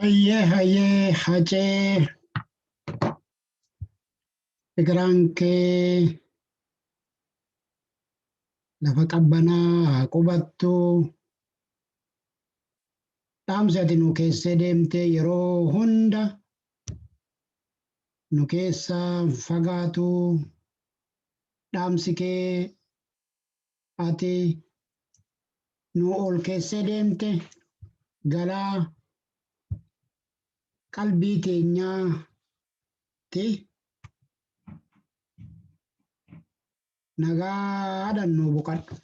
Hayyee hayyee hacee egeraan kee lafa qabbanaa haa qubattu dhaamsi ati nu keessee deemtee yeroo hunda nu keessaa fagaatu dhaamsi kee Ati nu ol keessee deemte gara qalbii teenyaatti nagaadhaan nu boqadhu.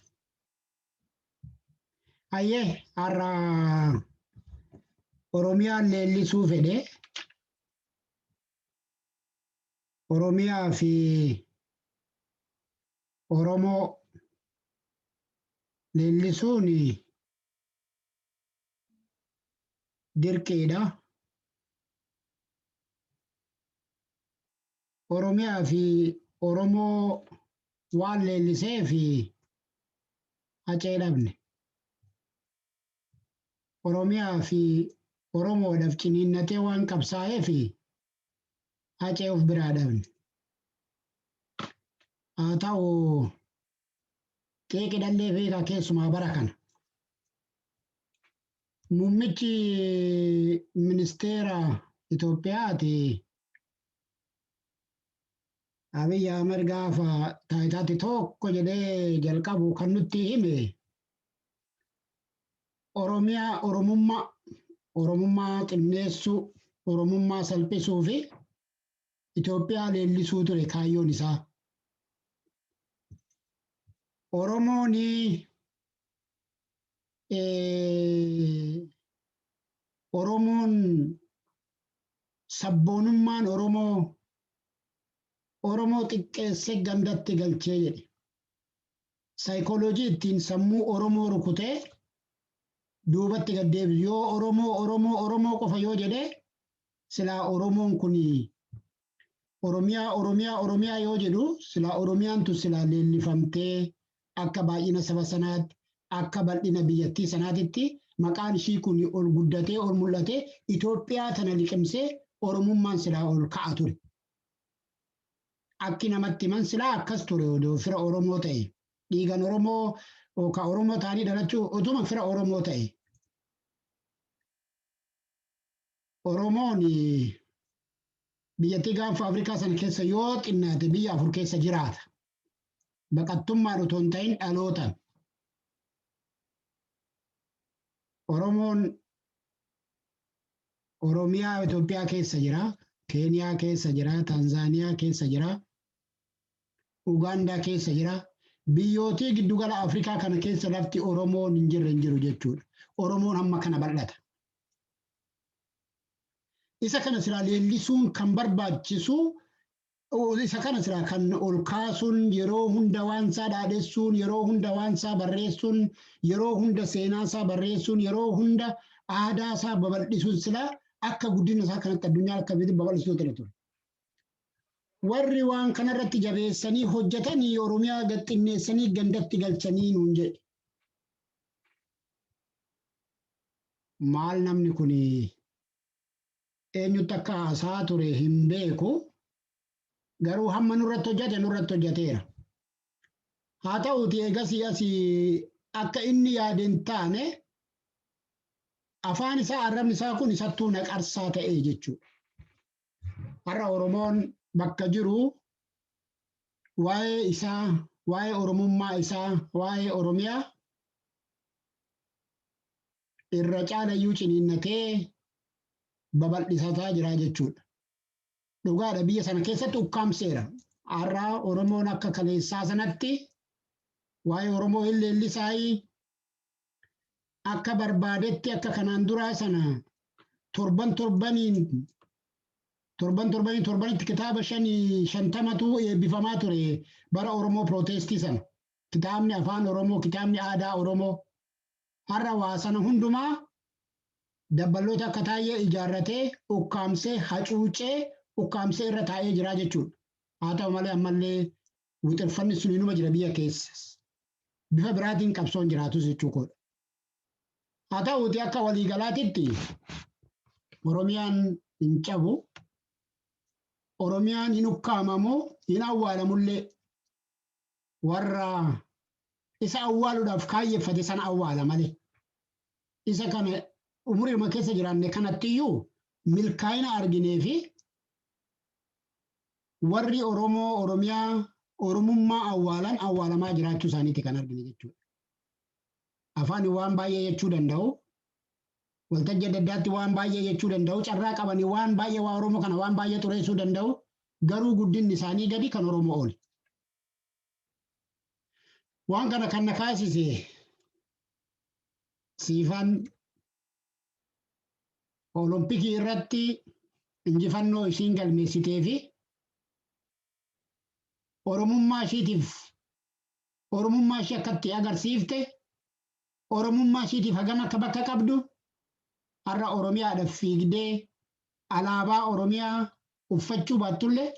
Hayyee har'a Oromiyaan leellisuu fedhe Oromiyaa fi Oromoo leellisuun dirqiidha. Oromiyaa fi Oromoo waan leellisee fi hacee dhabne. Oromiyaa fi Oromoodhaaf ciniinnatee waan qabsaa'ee fi Hacee of biraa dhabne. Haa ta'u xiiqi dhallee fiigaa keessumaa bara kana. Muummichi ministeera Itoophiyaati Abiy Ahmed gaafa taayitaatti tokko jedhee jalqabu kan nutti hime Oromiyaa Oromummaa, Oromummaa xinneessuu, Oromummaa salphisuu fi Itoophiyaa leellisuu ture kaayyoon isaa. Oromoon Oromoon sabboonummaan Oromoo Oromoo xiqqeessee gandatti galchee jedhe. Psychology ittiin sammuu Oromoo rukutee duubatti gad deebisu yoo Oromoo Oromoo Oromoo qofa yoo jedhee silaa Oromoon kun Oromiyaa Oromiyaa Oromiyaa yoo jedhu silaa Oromiyaan tun silaa leellifamtee akka baay'ina saba sanaatti akka bal'ina biyyattii sanaatitti maqaan ishii kun ol guddatee ol mul'atee Itoophiyaa tana liqimsee Oromummaan silaa ol ka'a ture. Akki namatti himan silaa akkas ture odoo fira Oromoo ta'e. Dhiigan Oromoo oo ka Oromoo ta'anii dhalachuu otuma fira Oromoo ta'e. Oromoon biyyattii gaanfa Afrikaa sana keessa yoo xinnaate biyya afur keessa jiraata. Baqattummaan otoo hin ta'in dhalootan. Oromoon Oromiyaa Itoophiyaa keessa jira, Keeniyaa keessa jira, Tanzaaniyaa keessa jira, Ugaandaa keessa jira. Biyyootii giddugala Afrikaa kana keessa lafti Oromoon hin jirre hin jiru jechuudha. Oromoon hamma kana bal'ata. Isa kana silaa leellisuun kan barbaachisu Isa kana silaa kan ol kaasuun yeroo hunda waansaa dhaadhessuun, yeroo hunda waansaa barreessuun, yeroo hunda seenaasaa barreessuun, yeroo hunda aadaasaa babal'isuun silaa akka guddina isaa kanatti addunyaa akka biyyatti babal'isuu ture ture. Warri waan kanarratti jabeessanii hojjetanii Oromiyaa gad xinneessanii gandatti galchanii nuun jedhe. Maal namni kuni Eenyutti akka haasa'aa ture hin beeku, garuu hamma nurratti hojjate nurratti hojjateera. Haa ta'uutii eegasii asi akka inni yaade hin taane afaan isaa arrabni isaa kun isattuu na qarsaa ta'e jechuudha. Har'a Oromoon bakka jiru waa'ee isaa, waa'ee Oromummaa isaa, waa'ee Oromiyaa irra caalayyuu ciniinnatee babal'isataa jira jechuudha. Dhugaadha biyya sana keessatti ukkaamseera. Har'a Oromoon akka kaleessaa sanatti waa'ee Oromoo hin leellisaayii akka barbaadetti akka kanaan duraa sana torban torbaniin torban torbanii torbanitti kitaaba shanii shantamatu eebbifamaa ture bara Oromoo pirootestii sana. Kitaabni afaan Oromoo, kitaabni aadaa Oromoo, har'a waa sana hundumaa dabballoota akka Taayyee ijaarratee, ukkaamsee, hacuucee, ukkaamsee irra taa'ee jiraa jechuudha. Haa ta'u malee ammallee wuxirfanni suni numa jira biyya keessas. Bifa biraatiin qabsoon jiraatus jechuu koodha. Haa ta'uuti akka waliigalaatitti Oromiyaan hin cabu. Oromiyaan hin ukkaamamu, hin awwaalamullee. warra isa awwaaluudhaaf kaayyeffate sana awwaala malee isa kana umuriidhuma keessa jiraanne kanatti iyyuu milkaa'ina arginee fi warri Oromoo Oromiyaa Oromummaa awwaalan awwaalamaa jiraachuu isaaniitti kan argine jechuudha. Afaan waan baay'ee jechuu danda'u, waltajjii adda addaatti waan baay'ee jechuu danda'u, carraa qabanii waan baay'ee waa Oromoo kana waan baay'ee xureessuu danda'u, garuu guddinni isaanii gadi kan Oromoo oli. Waan kana kan na kaasise siifan olompikii irratti injifannoo ishiin galmeessitee fi oromummaa ishiitiif oromummaa ishii akkatti agarsiifte Oromummaa ishiitiif hagam akka bakka qabdu, har'a Oromiyaadhaaf fiigdee alaabaa Oromiyaa uffachuu baattullee,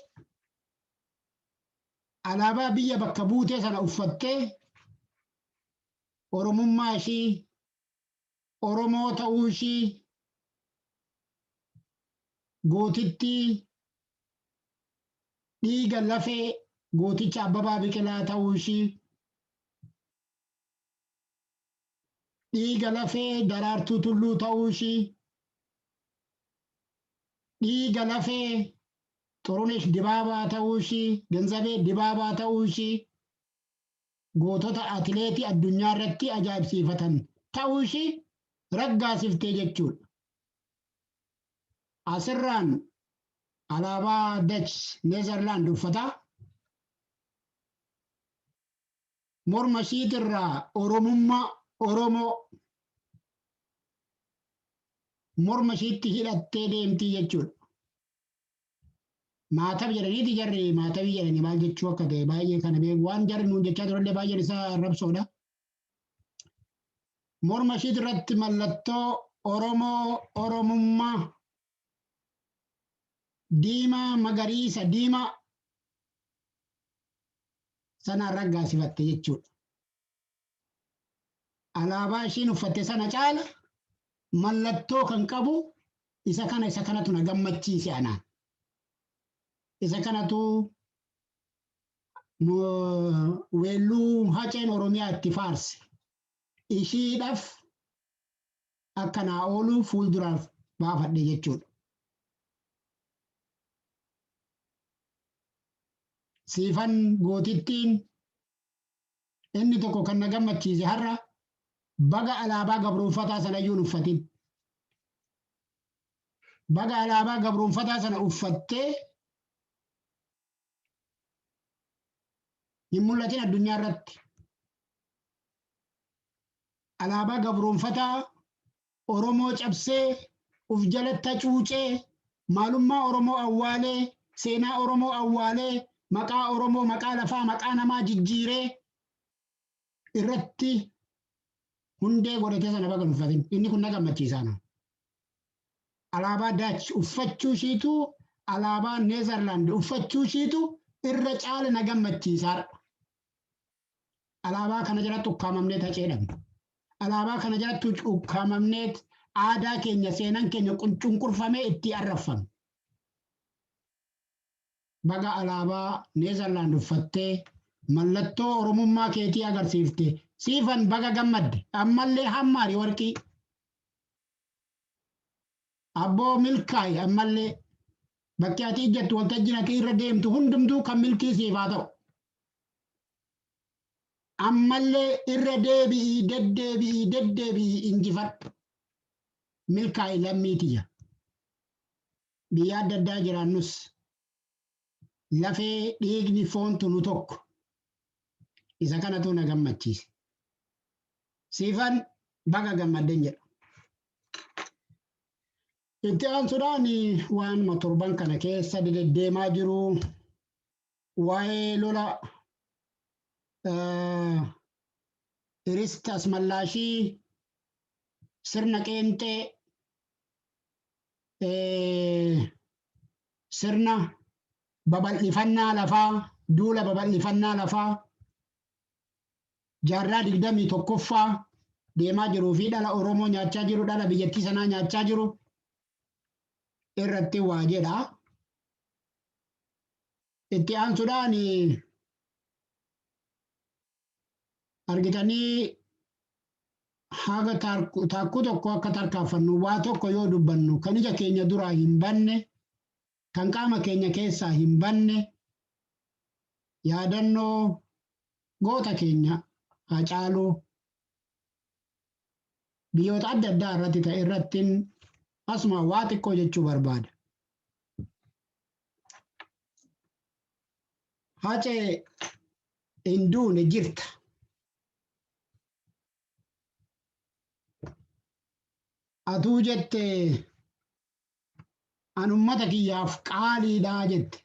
alaabaa biyya bakka buutee sana uffattee Oromummaa ishii, Oromoo ta'uu ishii, gootittii dhiiga lafee gooticha Abbabaa Biqilaa ta'uu ishii, Dhiiga lafee Daraartuu Tulluu ta'uu ishii. Dhiiga lafee Xurunesh Dibaabaa ta'uu ishii, Genzabee Dibaabaa ta'uu ishii. Gootota atileetii addunyaa irratti ajaa'ibsiifatan ta'uu ishii raggaasiftee jechuudha. Asirraan alaabaa Dach Neezerlaand uffataa. Morma ishiitirraa Oromummaa, Oromoo, morma ishiitti hidhattee deemtii jechuudha. Maatab jedhaniiti jarri maatabii jedhanii maal jechuu akka ta'e baay'ee kana beeku. Waan jarri nuun jechaa turellee baay'een isaa arrabsoodha. Morma ishiitirratti mallattoo Oromoo, Oromummaa, diimaa magariisa diimaa sanaan raggaasifatte jechuudha. Alaabaa ishiin uffatte sana caala mallattoo kan qabu isa kana isa kanatu na gammachiise anaan. Isa kanatu weelluu haceen Oromiyaa itti faarse. Ishiidhaaf akka naa oolu fuulduraaf baafadhe jechuudha. Siifan gootittiin inni tokko kan na gammachiise har'a baga alaabaa gabroonfataa sana iyyuu hin uffatin. Baga alaabaa gabroonfataa sana uffattee hin mul'atin addunyaa irratti alaabaa gabroonfataa Oromoo cabsee uf jalatta cuucee maalummaa Oromoo awwaalee seenaa Oromoo awwaalee maqaa Oromoo maqaa lafaa maqaa namaa jijjiiree irratti hundee godhatee sana baga hin uffatin. Inni kun na gammachiisaana. alaabaa Daach uffachuu ishiitu alaabaa Neezarlaand uffachuu ishiitu irra caala na gammachiisaadha. Alaabaa kana jalatti ukkaamamnee taceedhamna. Alaabaa kana jalatti ukkaamamnee aadaa keenya seenaan keenya cunqurfamee itti arraffamu. Baga alaabaa Neezarlaand uffattee mallattoo Oromummaa keetii agarsiifte siifan baga gammadde ammallee hammaari warqii. Abboo milkaa'i ammallee bakki ati ijjattu waltajjiin ati irra deemtu hundumtuu kan milkii siif haa ta'u. Ammallee irra deebi'ii deddeebi'ii deddeebi'ii injifadhu. Milkaa'i lammii tiyya. Biyya adda addaa jiraannus lafee dhiigni foontu nu tokko isa kanatu na gammachiise siifan baga gammadden jedha itti aansuudhaan waanuma torban kana keessa deddeemaa jiru waa'ee lola iristas mallaashii sirna qeenxee sirna babal'ifannaa lafaa, duula babal'ifannaa lafaa jaarraa 21ffaa deemaa jiruu fi dhala Oromoo nyaachaa jiru, dhala biyyattii sanaa nyaachaa jiru irratti waa jedha. Itti aansuudhaan argitanii haga taarku- taakkuu tokko akka tarkaanfannu waa tokko yoo dubbannu kan ija keenya duraa hin banne kan qaama keenya keessaa hin banne yaadannoo goota keenya hacaaluu biyyoota adda addaa irratti ta'e irrattiin asuma waa xiqqoo jechuu barbaada. Hacee hin duune jirta. Atuu jette an ummata kiyyaaf qaaliidha jette.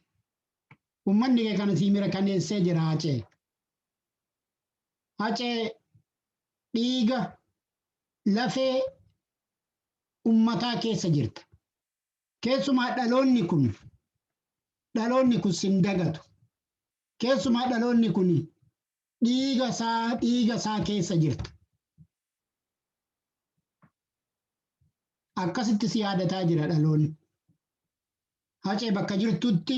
Ummanni kee kana sii mirkaneessee jira hacee. Hacee dhiiga lafee ummataa keessa jirta. Keessumaa dhaloonni kun dhaloonni kun sin dagatu. Keessumaa dhaloonni kun dhiiga isaa dhiiga isaa keessa jirta. Akkasitti si yaadataa jira dhaloonni. Hacee bakka jirtutti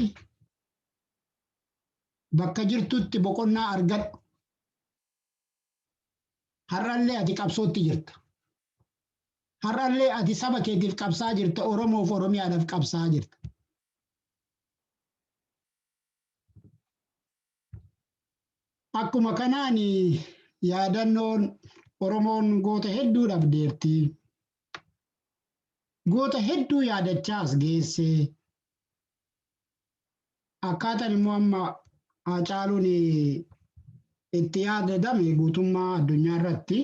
bakka jirtutti boqonnaa argadhu. Har'allee ati qabsootti jirta. Har'allee ati saba keetiif qabsaa jirta, Oromoof Oromiyaadhaaf qabsaa jirta. Akkuma kanaan yaadannoon Oromoon goota hedduu dhabdeerti. Goota hedduu yaadachaa as geesse. Akkaataan immoo amma Haacaaluun itti yaadadame guutummaa addunyaa irratti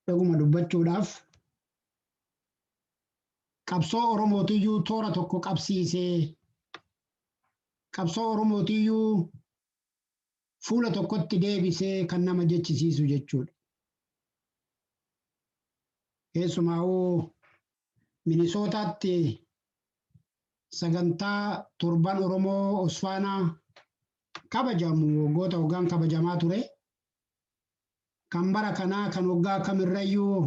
Dhuguma dubbachuudhaaf qabsoo Oromootiyyuu toora tokko qabsiisee qabsoo Oromootiyyuu fuula tokkotti deebisee kan nama jechisiisu jechuudha. Keessumaa'uu Minisootaatti sagantaa torban Oromoo Osfaanaa kabajamu waggoota waggaan kabajamaa ture. kan bara kanaa kan waggaa kamirrayyuu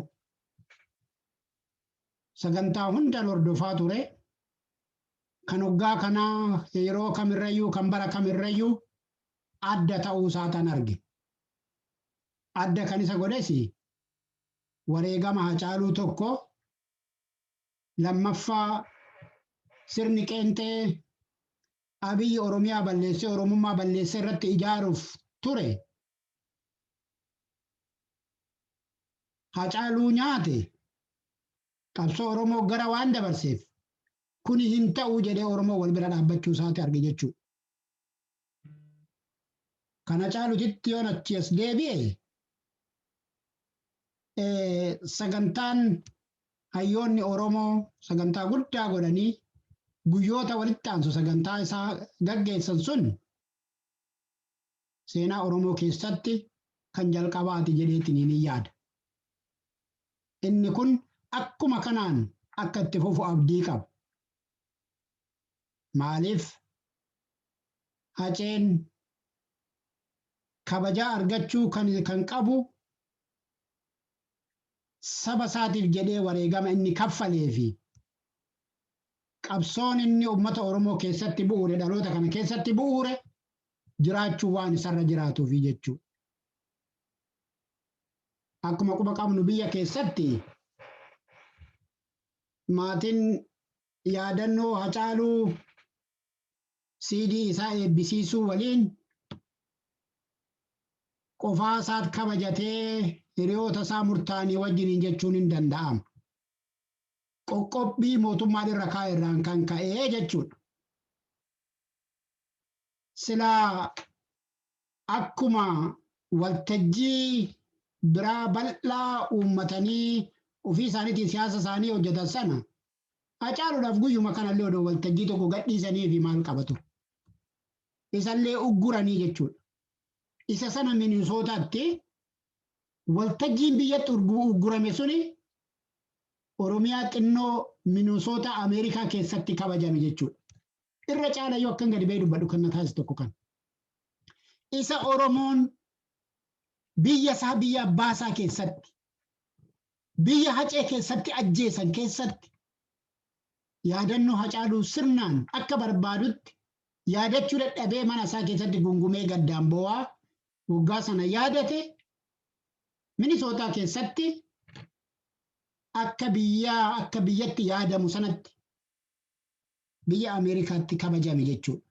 sagantaa hundan hordofaa ture. Kan waggaa kanaa yeroo kamirrayyuu kan bara kamirrayyuu adda ta'uu isaataan arge. Adda kan isa godhes wareegama hacaaluu tokko lammaffaa sirni qeenxee Abiy Oromiyaa balleessee Oromummaa balleessee irratti ijaaruuf ture Hacaaluu nyaate qabsoo Oromoo gara waan dabarseef kuni hin ta'u jedhee Oromoo wal bira dhaabbachuu isaati arge jechuu. Kana caalutitti yoon achi as deebi'e sagantaan Hayyoonni Oromoo sagantaa guddaa godhanii guyyoota walitti aansu sagantaa isaa gaggeessan sun seenaa Oromoo keessatti kan jalqabaati jedheetiin ni yaada. Inni kun akkuma kanaan akka itti fufu abdii qaba. Maaliif haceen kabajaa argachuu kan qabu saba isaatiif jedhee wareegama inni kaffalee fi qabsoon inni uummata Oromoo keessatti bu'uure dhaloota kana keessatti bu'uure jiraachuu waan isarra jiraatuufi jechuudha. Akkuma quba qabnu biyya keessatti maatiin yaadannoo Hacaaluu CD isaa eebbisiisuu waliin qofaa isaat kabajatee hiriyoota isaa murtaa'anii wajjiniin jechuun hin danda'amu. Qoqqobbii mootummaan irra kaa'e irraan kan ka'ee jechuudha. Silaa akkuma waltajjii biraa bal'aa uummatanii ofii isaaniitiin siyaasa isaanii hojjetan sana Hacaaluudhaaf guyyuma kanallee odoo waltajjii tokko gadhiisaniifi maal qaba ture? Isallee ugguranii jechuudha. Isa sana Minisootaatti waltajjiin biyyatti urgu- uggurame suni Oromiyaa xinnoo Minisootaa Ameerikaa keessatti kabajame jechuudha. Irra caala yoo akkan gadi ba'ee dubbadhu kan na taasisu tokko kan. Isa Oromoon biyya isaa biyya abbaa isaa keessatti Biyya Hacee keessatti ajjeesan keessatti yaadannoo Hacaaluu sirnaan akka barbaadutti yaadachuu dadhabee mana isaa keessatti gungumee gaddaan boo'aa waggaa sana yaadate Minisootaa keessatti akka biyya akka biyyatti yaadamu sanatti biyya Ameerikaatti kabajame jechuudha.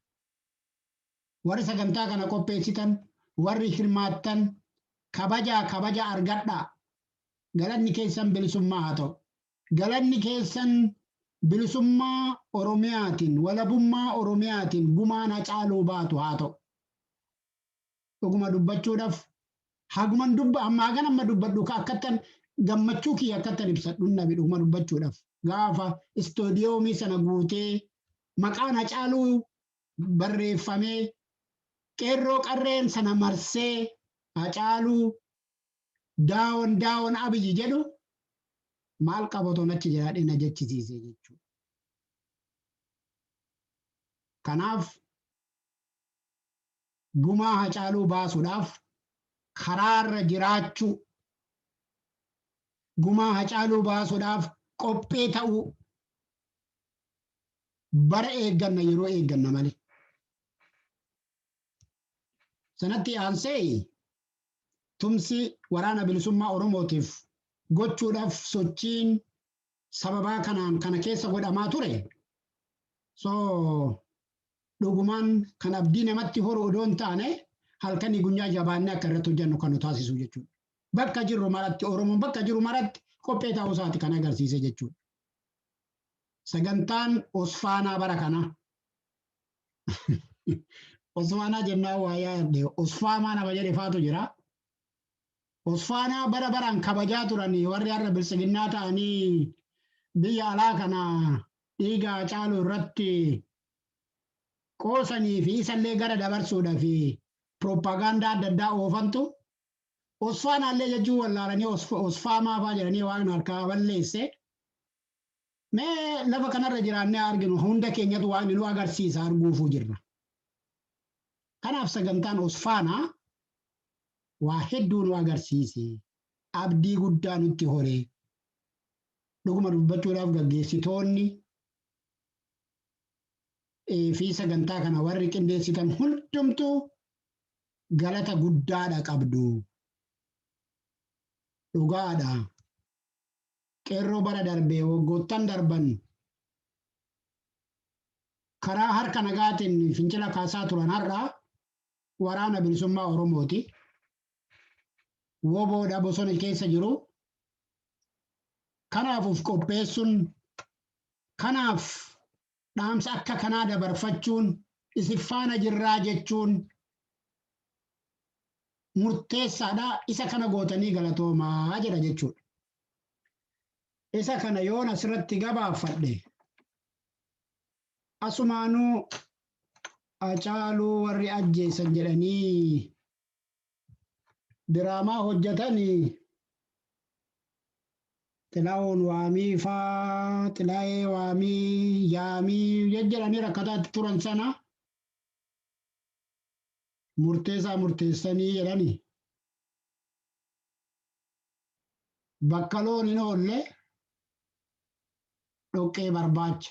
Warri sagantaa kana qopheessitan, warri hirmaattan kabajaa kabaja argadhaa. Galanni keessan bilisummaa haa ta'u. Galanni keessan bilisummaa Oromiyaatiin, walabummaa Oromiyaatiin gumaan Hacaaluu baatu haa ta'u. Dhuguma dubbachuudhaf haguman dubba amma hagan amma dubbadhu ka akkattan gammachuu kiyya akkattan ibsadhu hin dhabe dhuguma dubbachuudhaf. Gaafa istoodiyoomii sana guutee maqaan Hacaaluu barreeffamee qeerroo qarreen sana marsee Hacaaluu Daawon daawon Abiy jedhu maal qaba otoon achi jiraadhee na jechisiise jechuudha. Kanaaf gumaa hacaaluu baasuudhaaf karaarra jiraachuu gumaa hacaaluu baasuudhaaf qophee ta'uu bara eegganna yeroo eegganna malee. Sanatti aansee tumsi Waraana Bilisummaa Oromootiif gochuudhaaf sochiin sababaa kanaan kana keessa godhamaa ture. So dhugumaan kan abdii namatti horu odoo hin taane halkanii gunyaa jabaannee akka irratti hojjannu kan nu taasisu jechuudha. Bakka jirru maratti Oromoon bakka jiru maratti qophee ta'uu isaati kan agarsiise jechuudha. Sagantaan Osfaanaa bara kanaa Osfaanaa jennaa waa yaadde Osfaamaa nama jedhe faatu jira. Osfaanaa bara baraan kabajaa turan warri har'a biltsiginnaa ta'anii biyya alaa kana dhiiga caalu irratti qoosanii fi isallee gara dabarsuudha fi pirooppaagaandaa adda addaa oofantu Osfaanaallee jechuun wallaalanii Osfaamaafaa jedhanii waan harkaa balleesse. Mee lafa kanarra jiraannee haa arginu hunda keenyatu waaqni nu agarsiisa arguufuu jirra. Kanaaf sagantaan Osfaanaa waa hedduu nu agarsiise abdii guddaa nutti horee dhuguma dubbachuudhaaf gaggeessitoonni eh, fi sagantaa kana warri qindeessitan hundumtuu galata guddaadha qabdu. Dhugaadha. Qeerroo bara darbe waggoottan darban karaa harka nagaatiin fincila kaasaa turan har'a waraana bilisummaa Oromooti. Woboodha bosona keessa jiru. Kanaaf of qopheessuun kanaaf dhaamsa akka kanaa dabarfachuun isin faana jirraa jechuun murteessaadha. Isa kana gootanii galatoomaa jedha jechuudha. Isa kana yoon asirratti gabaafadhe asumaanuu Hacaaluu warri ajjeesan jedhanii diraamaa hojjetani xilaawoon waamii faa xilaayee waamii yaamii jejjeranii rakkataatti turan sana murteessaa murteessanii jedhani bakka loon hin oolle dhoqqee barbaacha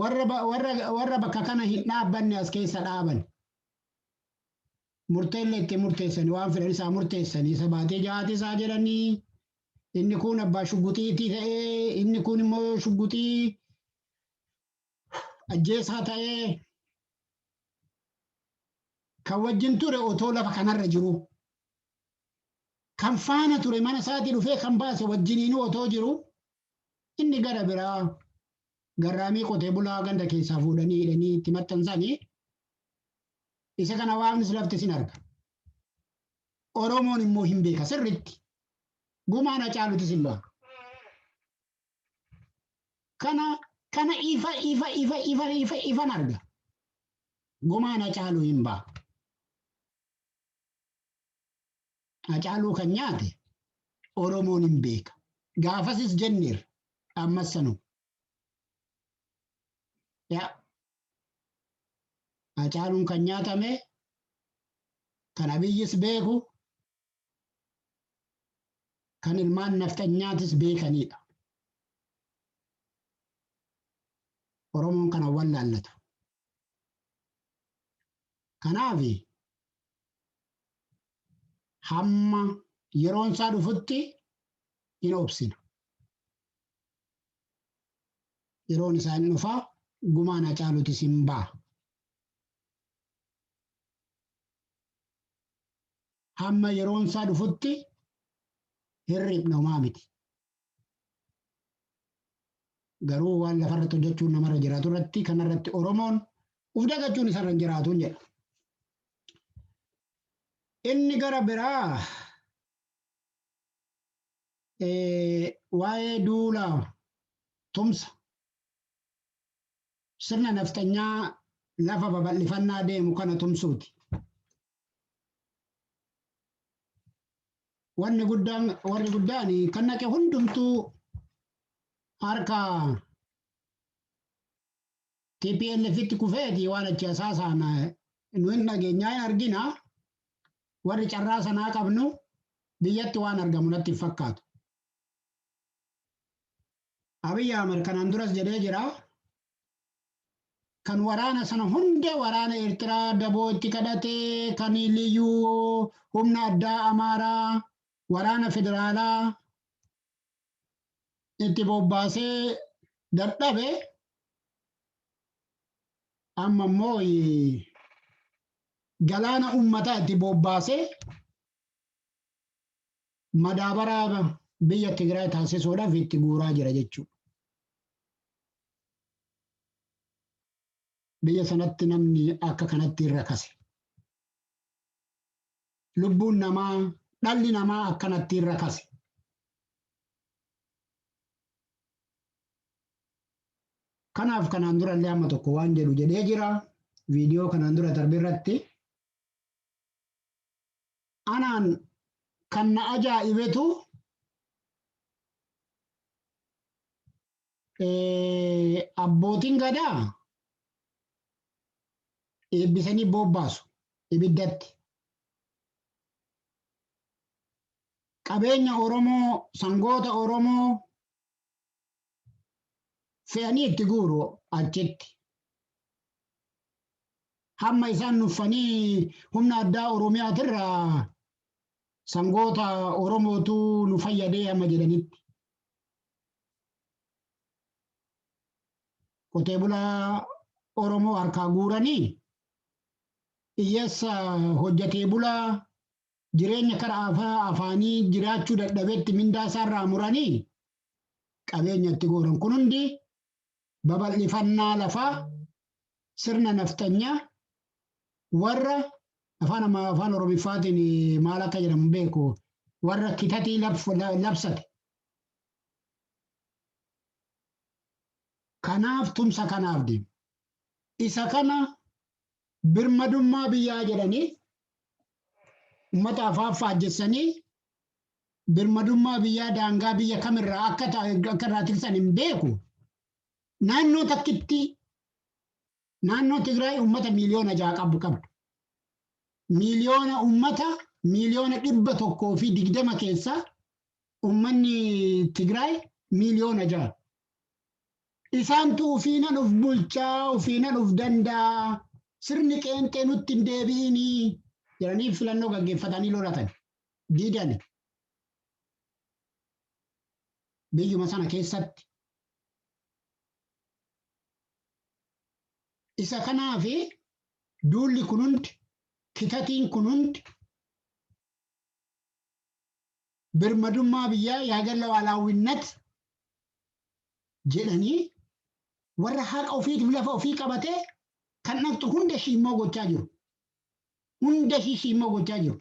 warra ba- warra warra bakka kana hin dhaabbanne as keessa dhaaban murteellee itti murteessanii waan fedhan isaa murteessanii isa baatee jahaati isaa jedhanii inni kun abbaa shugguxiitii ta'ee inni kun immoo shugguxii ajjeesaa ta'ee kan wajjin ture otoo lafa kanarra jiru kan faana ture mana isaatii dhufee kan baase wajjiniinuu otoo jiru Inni gara biraa garraamii qotee bulaa ganda keessaa fuudhanii hidhanii itti maxxansanii isa kana waaqnis laftis hin arga. Oromoon immoo hin beeka sirriitti. Gumaan hacaalutis hin ba'a. Kana kana ifa ifa ifa ifa ifa ifan arga. Gumaan hacaaluu hin ba'a. Hacaaluu kan nyaate Oromoon hin beeka. Gaafasis jenneerra. Ammas sanuma. Yaa Hacaaluun kan nyaatame kan Abiyyis beeku kan ilmaan nafxanyaatis beekaniidha. Oromoon kana wallaallatu. Kanaaf hamma yeroon isaa dhufutti hin obsina. Yeroon isaa hin dhufaa gumaan hacaalutis hin ba'a. Hamma yeroon isaa dhufutti hin riphna homaa miti. Garuu waan lafarratti hojjechuun namarra jiraatu irratti kanarratti Oromoon uf dagachuun isarra hin jiraatu jedha. Inni gara biraa waa'ee duula tumsa sirna nafxanyaa lafa babal'ifannaa deemu kana tumsuuti. Wanni guddaan warri guddaan kan naqe hundumtuu harka TPLFitti kufeeti waan achi hasaasaan nu hin dhageenyaa hin argina. Warri carraa sanaa qabnu biyyatti waan argamu natti hin fakkaatu. Abiy Ahmed kanaan duras jedhee jira. Kan waraana sana hunda waraana Eertiraa daboo itti kadhatee kan liyyuu humna addaa Amaaraa waraana federaalaa itti bobbaasee dadhabe amma immoo galaana ummataa itti bobbaasee madaabaraa biyya Tigraay taasisuudhaaf itti guuraa jira jechuudha. Biyya sanatti namni akka kanatti irra kase. lubbuun namaa, dhalli namaa akkanattiin rakase. Kanaaf kanaan dura illee amma tokko waan jedhu jedhee jira. Viidiyoo kanaan dura darbe irratti. Anaan kan na ajaa'ibetu Abbootiin gadaa eebbisanii bobbaasu ibiddatti. Qabeenya Oromoo, sangoota Oromoo fe'anii itti guuru achitti. Hamma isaan nuffanii humna addaa Oromiyaatirraa sangoota Oromootu nu fayyadee amma jedhanitti. qotee bulaa Oromoo harkaa guuranii hiyyeessa hojjetee bulaa jireenya karaa afaa afaanii jiraachuu dadhabetti mindaa isaarraa muranii qabeenya itti gooran kun hundi babal'ifannaa lafaa sirna nafxanyaa warra afaan ammaa afaan oromiffaatiin maal akka jedhamu beeku warra kitatii labsate Kanaaf tumsa kanaaf deema. Isa kana birmadummaa biyyaa jedhanii ummata afaan faajjessanii birmadummaa biyyaa daangaa biyya kamirraa akka ta- akka irraa tiksan hin beeku. Naannoo takkitti naannoo Tigraay ummata miiliyoona ja'a qabu qabdu. Miiliyoona ummata miiliyoona dhibba tokkoo fi digdama keessaa ummanni Tigraay miiliyoona ja'a. Isaantu ufiinan uf bulchaa, ufiinan uf danda'a, sirni qeenxee nutti hin deebi'inii jedhanii filannoo gaggeeffatanii lolatan. Diidani. Biyyuma sana keessatti. Isa kanaaf duulli kun hundi, kitatiin kun hundi birmadummaa biyyaa yaaga lawaalaawinnat jedhanii warra haqa ofiitiif lafa ofii qabatee kan dhaqxu hunda ishii immoo gochaa jiru. Hunda ishii ishii immoo gochaa jiru.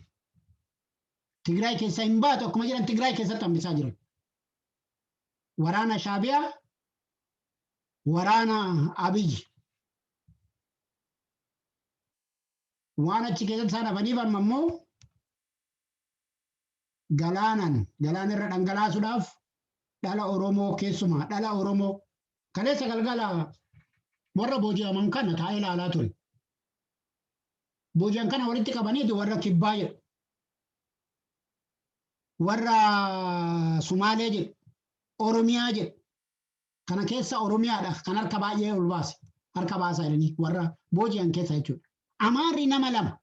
Tigraay keessaa hin baatu akkuma jedhan Tigraay keessatti hambisaa jiran. Waraana Shaabiyaa, waraana Abiyyi. Waan achi keessatti isaan hafaniif amma immoo galaanan galaana irra dhangalaasuudhaaf dhala Oromoo keessumaa dhala Oromoo kaleessa galgala warra booji'aman kana taa'ee ilaalaa ture. Booji'an kana walitti qabaniiti warra kibbaa jedhu. Warra Sumaalee jedhu. Oromiyaa jedhu. Kana keessa Oromiyaadha kan harka baay'ee ol baase. Harka baasaa jedhanii warra booji'an keessa jechuudha. Amaarri nama lama.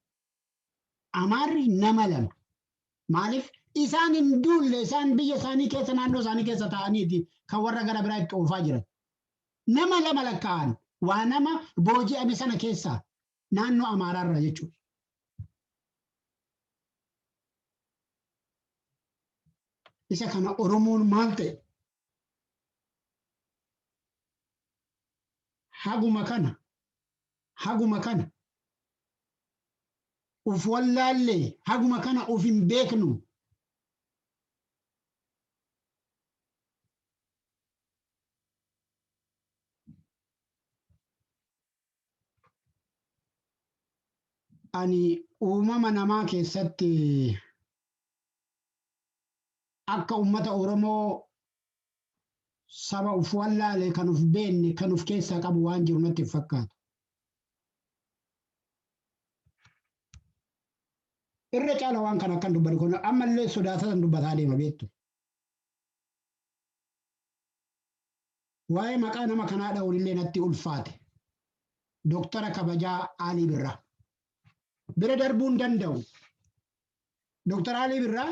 Amaarri nama lama. Maaliif isaan hin duulle isaan biyya isaanii keessa naannoo isaanii keessa taa'aniiti kan warra gara biraa itti oofaa jiran. Nama lama lakkaa'an waa nama booji'ame sana keessaa naannoo Amaaraarra jechuudha. Isa kana Oromoon maal ta'e? Haguma kana Haguma kana uf wallaalle, haguma kana uf hin beeknu. Ani uumama namaa keessatti akka uummata Oromoo saba uf wallaale kan uf beenne kan uf keessaa qabu waan jiru natti hin fakkaatu. Irra caala waan kana akkan dubbadhu kun ammallee sodaatatan dubbataa deema beektu. Waa'ee maqaa nama kanaa dha'uunillee natti ulfaate. Doktara kabajaa Aalii Birraa. Bira darbuu hin danda'u. Dooktar Alii Birraa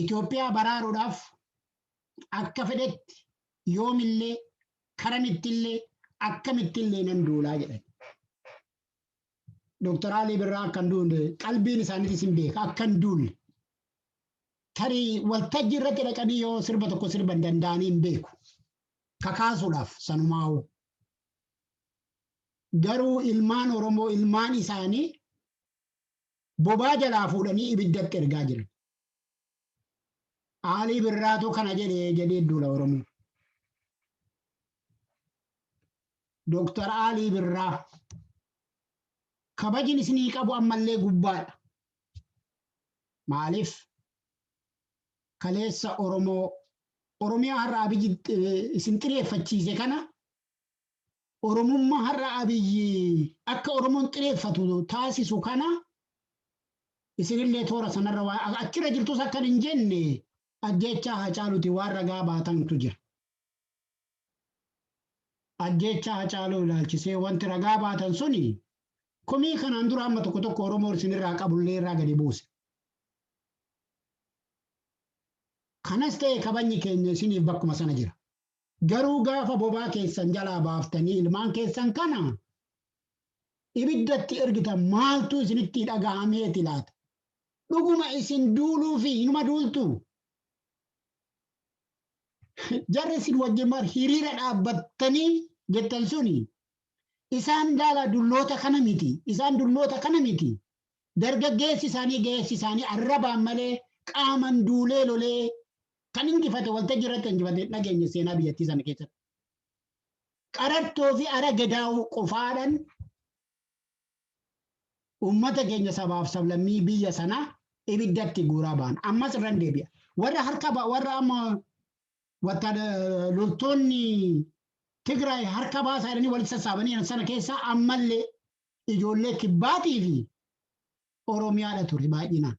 Itoophiyaa baraaruudhaaf akka fedhetti yoomillee karamittillee akkamittillee nan duulaa jedhan. Dooktar Alii Birraa akka hin duulle qalbiin isaaniitis hin beeka akka hin duulle. Tarii waltajjii irratti dhaqanii yoo sirba tokko sirban danda'anii hin beeku. Kakaasuudhaaf sanumaa'u. Garuu ilmaan Oromoo ilmaan isaanii bobaa jalaa fuudhanii ibiddatti ergaa jiran. Aalii Birraatu kana jedhe jedhee duula Oromoo. Dooktar Aalii Birraa kabajin isinii qabu ammallee gubbaadha. Maaliif kaleessa Oromoo Oromiyaa har'a abiyyi isin xireeffachiise kana Oromummaa har'a Abiy akka Oromoon xireeffatu taasisu kana isinillee toora sanarra waan achirra jirtus akkan hin jenne ajjeechaa Hacaaluuti waan ragaa baatantu jira. Ajjeechaa Hacaaluu ilaalchisee wanti ragaa baatan suni komii kanaan dura amma tokko tokko Oromoo isinirraa qabullee irraa gadi buuse. Kanas ta'e kabajni keenya isiniif bakkuma sana jira. Garuu gaafa bobaa keessan jalaa baaftanii ilmaan keessan kana ibiddatti ergitan maaltu isinitti dhagahameeti laata? Dhuguma isin duuluufi hinuma duultuu? Jarri isin wajjin mar hiriira dhaabbattanii jettan suni isaan laalaa dulloota kana miti. Isaan dulloota kana miti. Dargaggeessi isaanii ga'eessi isaanii arrabaan malee qaaman duulee lolee Kan injifate waltajjii irratti injifate hin dhageenye seenaa biyyattii sana keessatti. Qarattoo fi ara gedaa'uu qofaadhan uummata keenya sabaaf sablammii biyya sanaa ibiddatti guuraa ba'an. Ammas irran deebi'a. Warra harka ba- warra amma wattaada loltoonni Tigraay harka baasaa jedhanii walitti sassaabanii jiran sana keessaa ammallee ijoollee kibbaatii fi Oromiyaadha ture baay'inaan.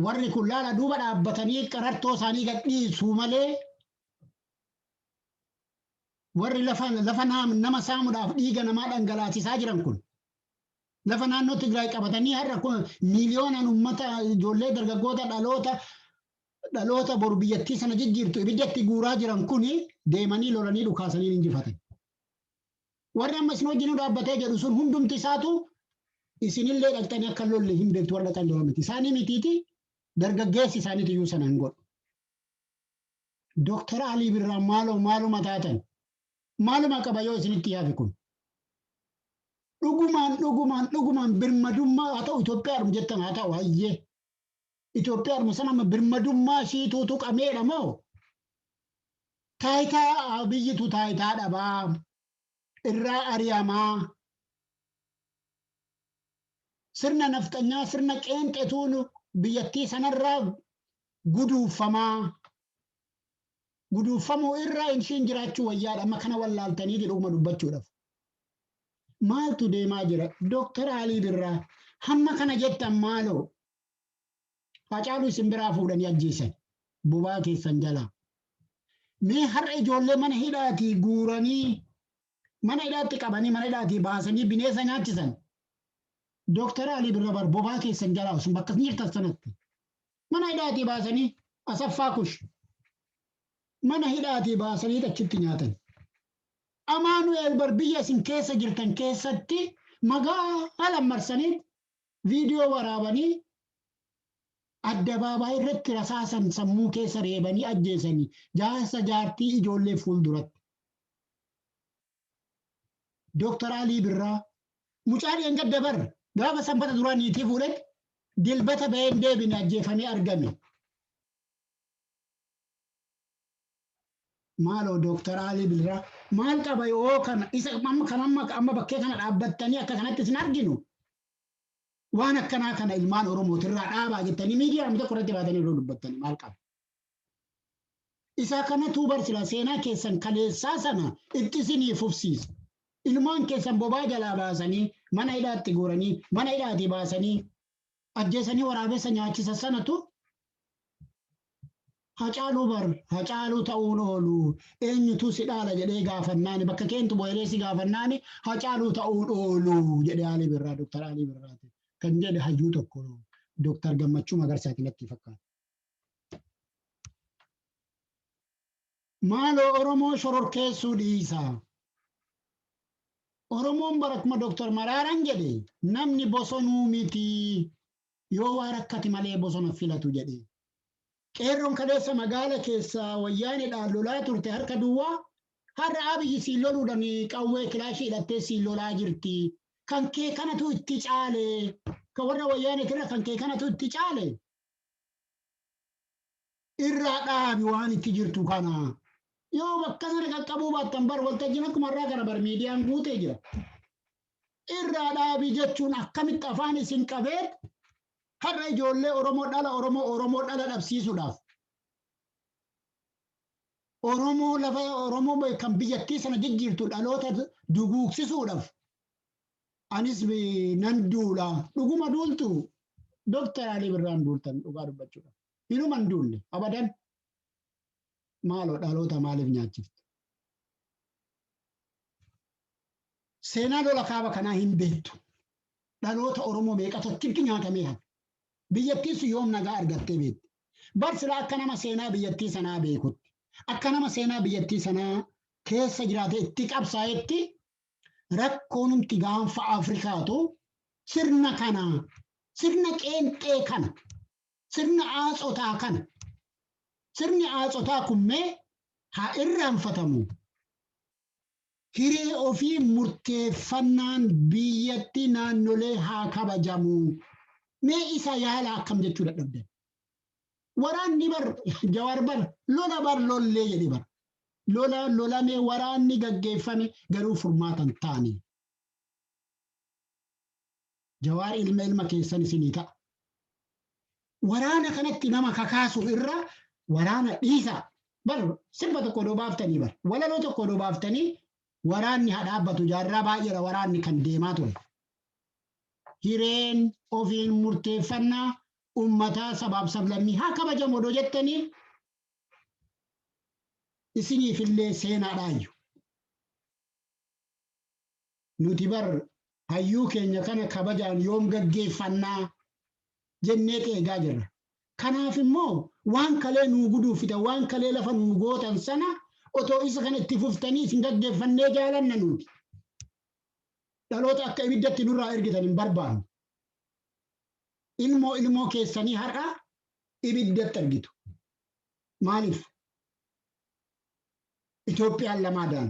Warri kun laala duuba dhaabbatanii qarartoo isaanii gad dhiisuu malee warri lafa lafa naam- nama saamuudhaaf dhiiga namaa dhangalaasisaa jiran kun lafa naannoo Tigraay qabatanii har'a kun miiliyoonaan uummata ijoollee dargaggoota dhaloota dhaloota boru biyyattii sana jijjiirtu ibiddatti guuraa jiran kun deemanii lolanii dhukaasanii ni injifatan. Warri amma isin wajjin dhaabbatee jedhu sun hundumti isaatu isinillee dhaqxanii akka hin lolle hin beektu warra dhaqan jedhan miti. Isaanii mitiiti dargaggeessi isaaniitu iyyuu sana hin godhu. Dooktar Alii Birraa maaloo maaluma taatan maaluma qaba yoo isinitti yaafi kun. Dhugumaan dhugumaan dhugumaan birmadummaa haa ta'u Itoophiyaadhum jettan haa ta'u hayyee. Itoophiyaadhuma sana amma birmadummaa ishiituu tuqameedha moo taayitaa Abiyyitu taayitaa dhabaa irraa ari'amaa sirna nafxanyaa sirna qeenxetuun biyyattii sanarraa guduuffamaa guduuffamuu irra ishiin jiraachuu wayyaadha amma kana wallaaltanii jedhuma dubbachuudhaaf. Maaltu deemaa jira? Dooktar Alii Birraa hamma kana jettan maaloo Hacaaluu isin biraa fuudhanii ajjeesan bobaa keessan jalaa. Mee har'a ijoollee mana hidhaatii guuranii mana hidhaatti qabanii mana hidhaatii baasanii bineensa nyaachisan. Dooktar Alii Birrabar bobaa keessan jalaa osoo bakka isin jirtan sanatti. Mana hidhaatii baasanii Asaffaa Kush mana hidhaatii baasanii achitti nyaatan. Amaanu'eel bar biyya isin keessa jirtan keessatti magaalaan marsanii Viidiyoo waraabanii addabaabaayi irratti rasaasan sammuu keessa reebanii ajjeesani jaarsa jaartii ijoollee fuulduratti. Doktar Alii Birraa mucaa dheengadda bar gaafa sanbata duraa niitii fuudhetti dilbata baheen deebine ajjeefamee argame. Maaloo Doktar Alii Birraa maal qaba yoo kana isa kan amma bakkee kana dhaabbattanii akka kanatti isin arginu Waan akkanaa kana ilmaan Oromooti irraa dhaabaa jettanii miidiyaa amma tokko irratti baatanii yeroo dubbattanii maal qaba? Isaa kanatuu bar silaa seenaa keessan kaleessaa sana itti isinii fufsiisa. Ilmaan keessan bobaa jalaa baasanii mana hidhaatti guuranii mana hidhaatii baasanii ajjeesanii waraabessa nyaachisa sanatu Hacaaluu bar hacaaluu ta'uun oolu eenyutu si dhaala jedhee gaafannaani bakka keentu bo'elee si gaafannaani hacaaluu ta'uun oolu jedhe Alii Birraa Dooktar Alii Birraati kan jedhe hayyuu tokko Dooktar Gammachuu Magarsaati natti fakkaata. Maaloo Oromoo shororkeessuu dhiisa. Oromoon bara kuma Dooktar Maraaraan jedhe namni bosonuu mitii. Yoo waa rakkate malee bosona filatu jedhe. Qeerroon kaleessa magaala keessa wayyaanedhaan lolaa turte harka duwwaa har'a Abiy siin loluudhan qawwee kilaashii hidhattee siin lolaa jirti. Kan kee kanatu itti caale. Kan warra wayyaaneetirra kan kee kanatu itti caale. irraa dhaabi waan itti jirtu kana. Yoo bakka sana qaqqabuu baattan bar waltajjiin akkuma irraa kana bar miidiyaan guutee jira. Irraa dhaabi jechuun akkamitti afaan isin qabee har'a ijoollee Oromoo dhala Oromoo Oromoo dhala dhabsiisuudhaaf. Oromoo lafa Oromoo be- kan biyyattii sana jijjiirtu dhaloota duguugsisuudhaaf. Anis be- nan duula. Dhuguma duultu. Dooktar Alii Birraan duultan dhugaa dubbachuudhaaf. Inuma hin duulle abadan. Maaloo dhaloota maaliif nyaachiftu? Seenaa lola kaaba kanaa hin beektu. Dhaloota Oromoo meeqatu achitti nyaatamee hafe. Biyyattiis yoom nagaa argattee beekti. Bar silaa akka nama seenaa biyyattii sanaa beekutti. Akka nama seenaa biyyattii sanaa keessa jiraatee itti qabsaa'etti rakkoonumti gaanfa Afrikaatu sirna kana sirna qeenxee kana Sirna Aatsotaa kana. Sirni Aatsotaa kun mee haa irraanfatamu. Hiree ofii murteeffannaan biyyatti naannolee haa kabajamu. Mee isa yaala akkam jechuu dadhabdan. Waraanni bar Jawaar bar lola bar lollee jedhe bar. Lola lolamee waraanni gaggeeffame garuu furmaata hin taane. Jawaar ilma ilma keessan isinii ta'a. Waraana kanatti nama kakaasu irra waraana dhiisaa. Bar sirba tokko odoo baaftanii bar walaloo tokko odoo baaftanii waraanni haa dhaabbatu jaarraa baay'eedha waraanni kan deemaa ture. Hireen ofiin murteeffannaa ummataa sabaaf sablammii haa kabajamu odoo jettanii isiniifillee seenaadhaayyu. Nuti bar hayyuu keenya kana kabajaan yoom gaggeeffanna? jenneet eegaa jirra. Kanaaf immoo waan kalee nuu guduuffitan, waan kalee lafa nuu gootan sana otoo isa kana itti fuftanii isin gaggeeffannee jaalanna nuti. Dhaloota akka ibiddatti nurraa ergitan hin barbaannu. Ilmoo ilmoo keessanii har'a ibiddatti argitu. Maaliif? Itoophiyaan lamaadaan.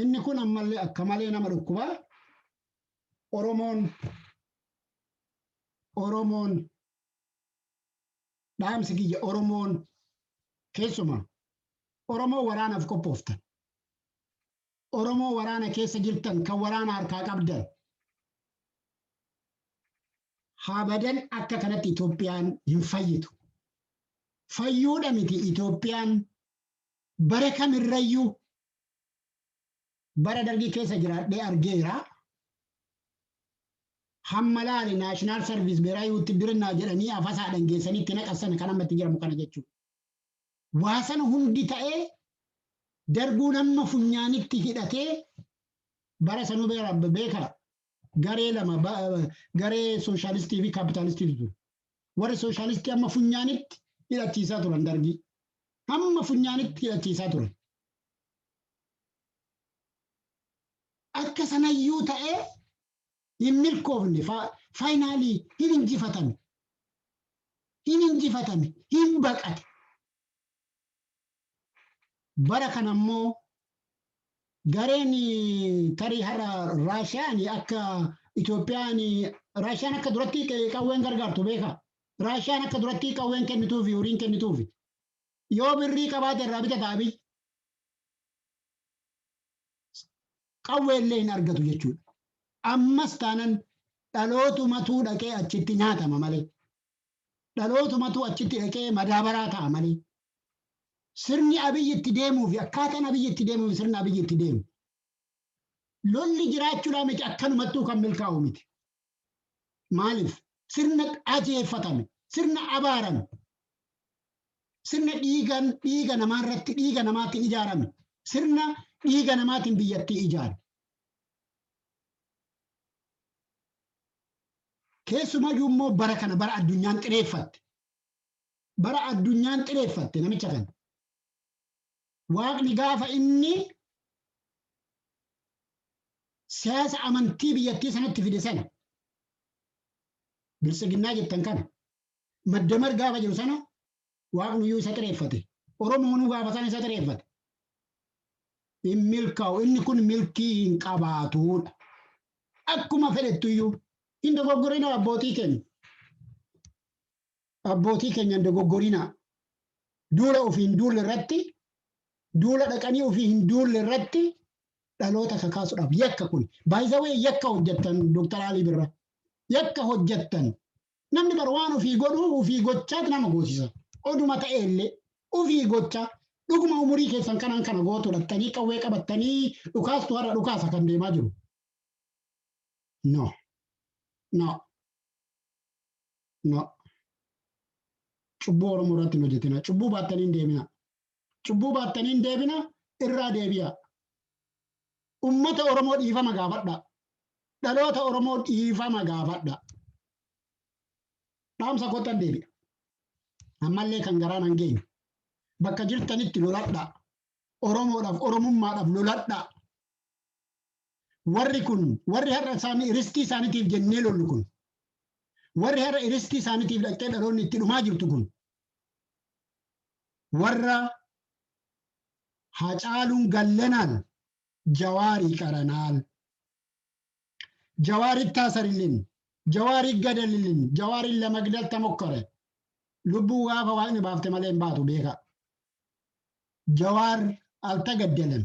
Inni kun ammallee akka malee nama dhukkuba. Oromoon Oromoon dhaamsi kiyya Oromoon keessuma Oromoo waraanaaf qophooftan. Oromoo waraana keessa jirtan kan waraana harkaa qabdan. Habadan akka kanatti Itoophiyaan hin fayyitu. Fayyuudha miti Itoophiyaan bara kamirrayyuu Bara Dargii keessa jiraadhee argeera. Hamma laali Naashinaal Sarviis Beeraayi Wuttidirinnaa jedhanii afasaadhaan geessanii itti naqan sana kan amma itti jedhamu kana jechuudha. Waa sana hundi ta'ee Darguun amma funyaanitti hidhatee bara sanuu beera beeka garee lama ba- garee sooshaalistii fi kaapitaalistiitu ture. Warri sooshaalistii amma funyaanitti hidhachiisaa turan Dargii. Hamma funyaanitti hidhachiisaa turan. Akka sanayyuu ta'ee hin milkoofne, faayinaalii hin injifatame, hin injifatame, hin baqate. Bara kana immoo gareen tarii har'a Raashiyaan akka Itoophiyaan Raashiyaan akka duratti qawween gargaartu beekaa? Raashiyaan akka duratti qawween kennituufi horiin kennituufi. Yoo birrii qabaate irraa bitata Abiy. Qawwee illee hin argatu jechuudha. Ammas taanan dhalootumatuu dhaqee achitti nyaatama malee. Dhalootumatuu achitti dhaqee madaabaraa ta'a malee. Sirni Abiy itti deemuu fi akkaataan Abiy itti deemuu fi sirna Abiy itti deemu. Lolli jiraachuudhaa miti akkanumattuu kan milkaa'u miti. Maaliif? Sirna ajeeffatame, sirna abaarame, sirna dhiigan dhiiga namaa irratti dhiiga namaatiin ijaarame, sirna dhiiga namaatiin biyyattii ijaare. Keessumayyuu immoo bara kana bara addunyaan xireeffatte. Bara addunyaan xireeffatte namicha kana. Waaqni gaafa inni siyaasa amantii biyyattii sanatti fide sana biltsiginnaa jettan kana maddamar gaafa jiru sana waaqnuyyuu isa xireeffate oromoonuu gaafa sana isa xireeffate hin milkaa'u inni kun milkii hin qabaatuudha akkuma fedhettuyyuu hin dogoggorinaa abbootii keenya Abbootii keenya hin dogoggorinaa. Duula ofii hin duulle irratti, duula dhaqanii ofii hin duulle irratti dhaloota kakaasudhaaf yakka kun. By the way yakka hojjattan Dr. Alii Birra. Yakka hojjattan. Namni bar waan ofii godhu ofii gochaat nama goosisa. Oduma ta'e illee ofii gocha dhuguma umurii keessan kanaan kana gootu dhattanii qawwee qabattanii dhukaastu har'a dhukaasa kan deemaa jiru. No. No. No. Cubbuu Oromoo irratti hin hojjetina. Cubbuu baattanii hin deebina. Cubbuu baattanii hin deebina irraa deebi'a. Ummata Oromoo dhiifama gaafadha. Dhaloota Oromoo dhiifama gaafadha. Dhaamsa kottan deebi'a. Ammallee kan garaan hin geenye. Bakka jirtanitti loladha. Oromoodhaaf, Oromummaadhaaf loladha. Warri kun, warri har'a isaanii, ristii isaanitiif jennee lollu kun, warri har'a ristii isaanitiif dhaqxee dhaloonni itti dhumaa jirtu kun, warra Hacaaluun Gallanaan Jawaarii qaranaal, Jawaar ittaasarilin, Jawaar iggadalilin, Jawaar illa magdalta mokkore, lubbuu gaafa Waaqni baafte malee hin baatu beekaa. Jawaar altagaddalem,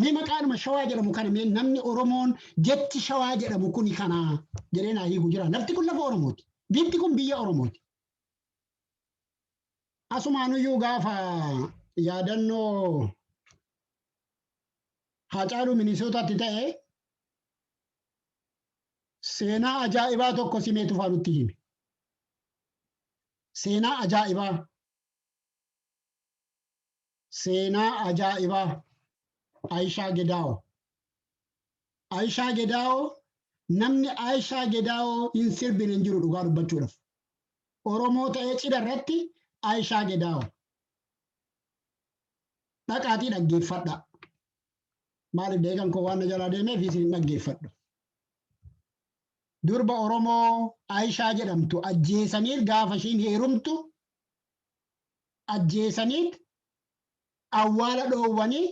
Mee maqaanuma shawaa jedhamu kana mee namni Oromoon jechi shawaa jedhamu kuni kana jedhee naa hiiku jira. Lafti kun lafa Oromooti. Biyyi kun biyya Oromooti. Asumaanuyyuu gaafa yaadannoo Haacaaluu Minisootaatti ta'e seenaa ajaa'ibaa tokko simee tufaa nutti hime. Seenaa ajaa'ibaa. Seenaa ajaa'ibaa Ayishaa Gedaawoo. Ayishaa Gedaawoo namni Ayishaa Gedaawoo hin sirbine hin jiru dhugaa dubbachuudhaaf. Oromoo ta'ee cidha irratti Ayishaa Gedaawoo. Dhaqaatii dhaggeeffadhaa. Maaliif deegan koo waan na jalaa deemeef isin hin dhaggeeffadhu. Durba Oromoo Ayishaa jedhamtu ajjeesanii gaafa ishiin heerumtu ajjeesaniit awwaala dhoowwanii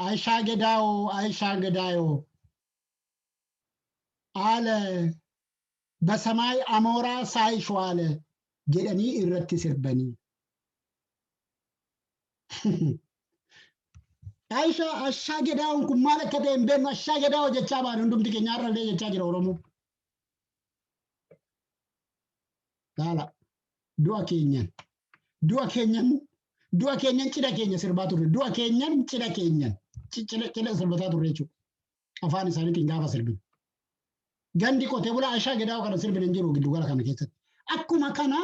Ayishaa Gedaayoo Ayishaa Gedaayoo haala basamaay amooraa saayishwaale jedhanii irratti sirbanii. Ayishaa Ashaa Gedaawoon kun maal akka ta'e hin beeknu Ashaa Gedaawoo jechaa baane hundumti keenya har'allee jechaa jira Oromoo. Laala. Du'a keenyan. Du'a keenyan. Du'a keenyan cidha keenya sirbaa turre. Du'a keenyan cidha keenyan. Ci- Cidha cidha sirbataa turre jechuudha. Afaan isaaniitiin gaafa sirbinu. Gandi qotee bulaa ashaa gedaa kana sirbina hin jiru giddugala kana keessatti. Akkuma kana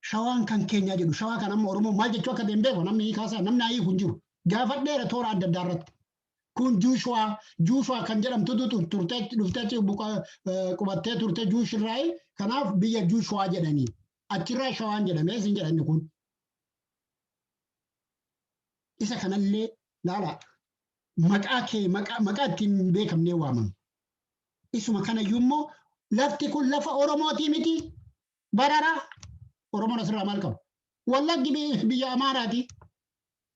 shawaan kan keenyaa jedhu shawaa kan amma oromoo maal jechuu akka ta'e hin beeku namni hiikaa isaa namni hiiku hin jiru. Gaafadheera toora adda addaa irratti. Kun Juushuwaa, Juushuwaa kan jedhamtutu tur- turtee achi dhuftee achi buqa- eh, qubattee turte Juush irraayi. Kanaaf biyya Juushuwaa jedhanii. Achirraa Shawaan jedhame isin jedhanni kun. Isa kanallee laala maqaa kee maqaa maqaa ittiin hin beekamnee waamama. Isuma kanayyuu immoo lafti kun lafa Oromootii miti bararaa. Oromoon asirraa maal qabu? Wallaggi bi- biyya Amaaraati.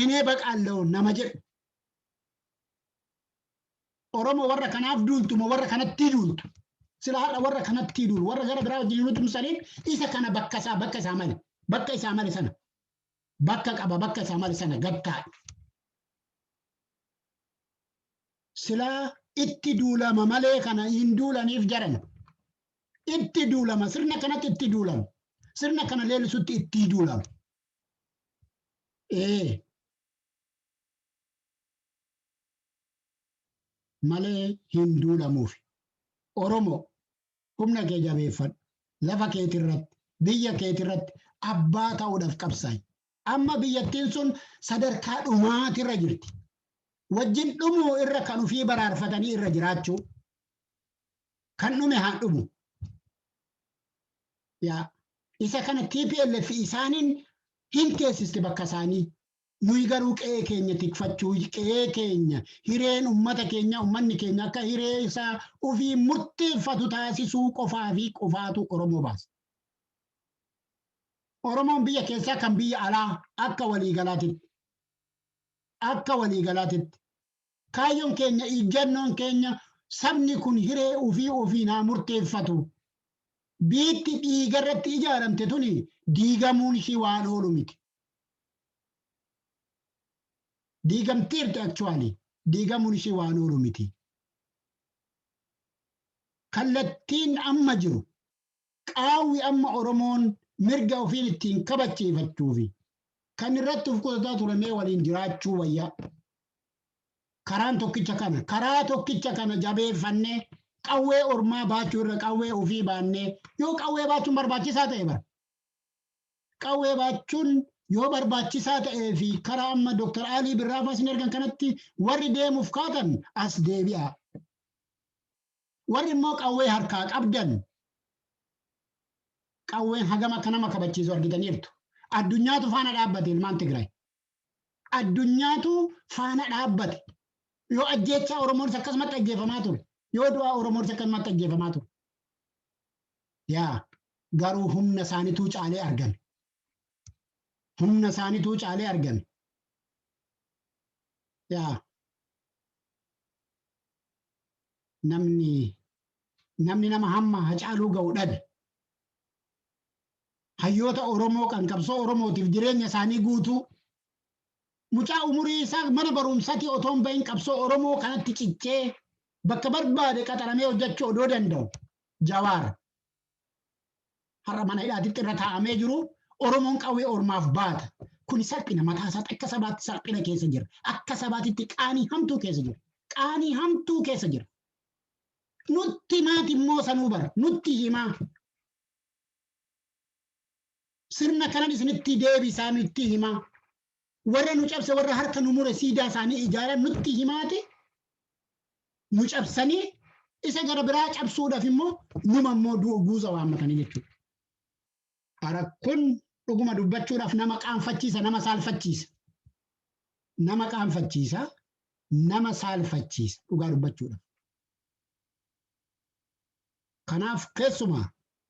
እኔ በቃለሁ nama jedhu oromo warra kanaaf duultu moo warra kanatti duultu sila har'a warra kanatti duulu warra gara biraa wajjin hin utumsaniin isa kana bakka isaa bakka isaa male bakka isaa male sana bakka qaba bakka isaa male sana gad taa'e sila itti duulama malee kana hin duulaniif jaran itti duulama sirna kanatti itti duulama sirna kana leelisutti itti duulama ee malee hin duulamuufi. Oromoo humna kee jabeeffadhu. Lafa keetirratti, biyya keetirratti abbaa ta'uudhaaf qabsaa'i. Amma biyyattiin sun sadarkaa dhumaatirra jirti. Wajjin dhumuu irra kan ofii baraarfatanii irra jiraachuu. kan dhume haa dhumu. Yaa isa kana TPLF isaaniin hin teessiste bakka isaanii. Nuyi garuu qe'ee keenya tikfachuu qe'ee keenya hireen ummata keenya ummanni keenya akka hiree isaa ofii murteeffatu taasisuu qofaa fi qofaatu Oromoo baasa. Oromoon biyya keessaa kan biyya alaa akka waliigalaatitti akka waliigalaatitti Kaayyoon keenya, ijjannoon keenya sabni kun hiree ofii ofiin haa murteeffatu. Biitti dhiiga irratti ijaaramte tuni diigamuun ishii waan oolu miti. Diigamteerti actually diigamuun ishii waan oolu miti. Kallattiin amma jiru qaawwi amma Oromoon mirga ofiin ittiin kabachiifachuufi kan irratti of qutataa ture mee waliin jiraachuu wayya. Karaan tokkicha kana. Karaa tokkicha kana jabeeffannee qawwee ormaa baachuu irra qawwee ofii baannee yoo qawwee baachuun barbaachisaa ta'e bara. Qawwee baachuun yoo barbaachisaa ta'ee fi karaa amma Dr. Alii Birraafaa isin ergan kanatti warri deemuuf kaatan as deebi'aa. Warri immoo qawwee harkaa qabdan qawween hagam akka nama kabachiisu argitaniirtu. Addunyaatu faana dhaabbate ilmaan Tigraay. Addunyaatu faana dhaabbate. Yoo ajjeechaa Oromoonis akkasumatti ajjeefamaa ture. Yoo du'aa Oromoonis akkasumatti ajjeefamaa ture. Yaa garuu humna isaanituu caalee argame. Humna isaanituu caalee argame. Yaa namni namni nama hamma Hacaaluu ga'u dhabe. Hayyoota Oromoo kan qabsoo Oromootiif jireenya isaanii guutuu mucaa umurii isaa mana barumsatii otoo hin bahin qabsoo Oromoo kanatti cichee bakka barbaade qaxaramee hojjechuu odoo danda'u Jawaar har'a mana hidhaatitti irra taa'amee jiru Oromoon qawwee ormaaf baata. Kuni salphina mataa isaatti akka sabaatti salphina keessa jira. Akka sabaatitti qaanii hamtuu keessa jira. Qaanii hamtuu keessa jira. Nutti maati immoo sanuu bara. Nutti himaa. Sirna kanan isinitti deebisaa nutti himaa. Warra nu cabse warra harka nu mure siidaa isaanii ijaaran nutti himaati nu cabsanii isa gara biraa cabsuudhaaf immoo numa immoo du- guuza waammatanii jechuudha. Ara kun dhuguma dubbachuudhaaf nama qaanfachiisa nama saalfachiisa. Nama qaanfachiisa nama saalfachiisa dhugaa dubbachuudhaaf. Kanaaf keessumaa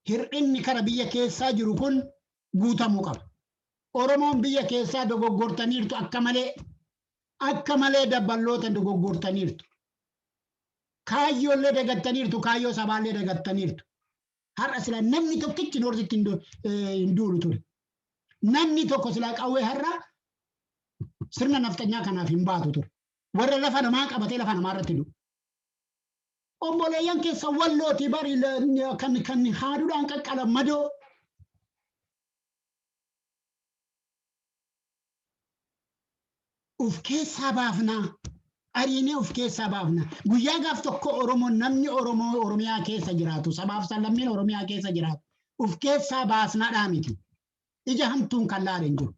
hir'inni kara biyya keessaa jiru kun guutamuu qaba. Oromoon biyya keessaa dogoggortaniirtu akka malee. Akka malee dabballoota dogoggortaniirtu. Kaayyoollee dagattaniirtu, kaayyoo sabaallee dagattaniirtu. Har'a sila namni tokkichi noortitti hin du- eh, hin duulu ture. Namni tokko sila qawwee har'a sirna nafxanyaa kanaaf hin baatu ture. Warra lafa namaa qabatee lafa namaa irratti du'u. Obboleeyyan keessa wallooti bari kan kan haadudhaan qaqqalan madoo. Uf keessaa baafnaa. Ariinee uf keessaa baafna. Guyyaa gaaf tokko Oromoo namni Oromoo Oromiyaa keessa jiraatu sabaaf sallammiin Oromiyaa keessa jiraatu uf keessaa baasnaadhaa miti. Ija hamtuun kan laale hin jiru.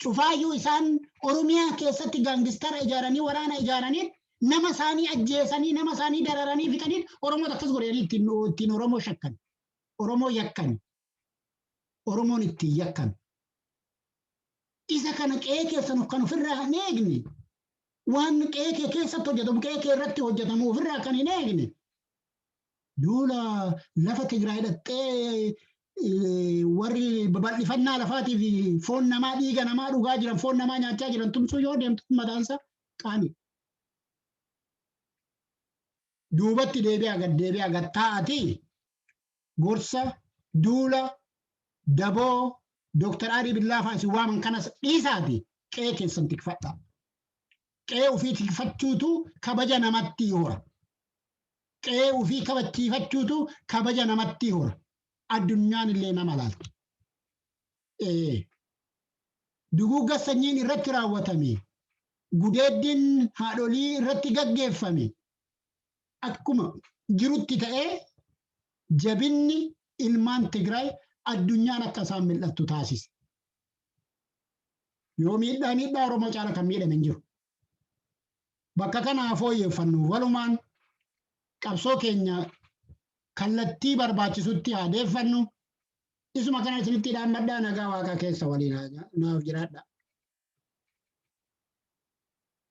Cufaayyuu isaan Oromiyaa keessatti gaangistara ijaaranii waraana ijaaraniin nama isaanii ajjeesanii nama isaanii dararanii fixaniin Oromoota akkas godhanii ittiin ittiin Oromoo shakkan. Oromoo yakkan. Oromoon ittiin yakkan. Isa kana qe'ee keessan kan ofirraa hin eegne waan qe'ee kee keessatti hojjetamu qe'ee kee irratti hojjetamu ofirraa kan hin eegne Duula lafa Tigraay dhaqxee warri babal'ifannaa lafaatii fi foon namaa dhiiga namaa dhugaa jiran foon namaa nyaachaa jiran tumsuu yoo deemtu mataansa qaani. Duubatti deebi'aa gad deebi'aa gad taa'atii gorsa duula daboo Dooktar Arii Billaafaa isin waaman kanas dhiisaati qe'ee keessan tikfadhaa. Qe'ee ofii tikfachuutu kabaja namatti hora. Qe'ee ufii kabachiifachuutu kabaja namattii hora. Addunyaan illee nama laalti. Ee. Duguugga sanyiin irratti raawwatame, gudeeddiin haadholii irratti gaggeeffame akkuma jirutti ta'ee jabinni ilmaan Tigraay addunyaan akka isaan mil'attu taasise. Yoo miidhaa miidhaa Oromoo caala kan miidhame hin jiru. bakka kana haa fooyyeffannu. Walumaan qabsoo keenya kallattii barbaachisutti haa deeffannu. Isuma kana isinitti dhaammadhaa nagaa waaqaa keessa waliin naaf jiraadhaa.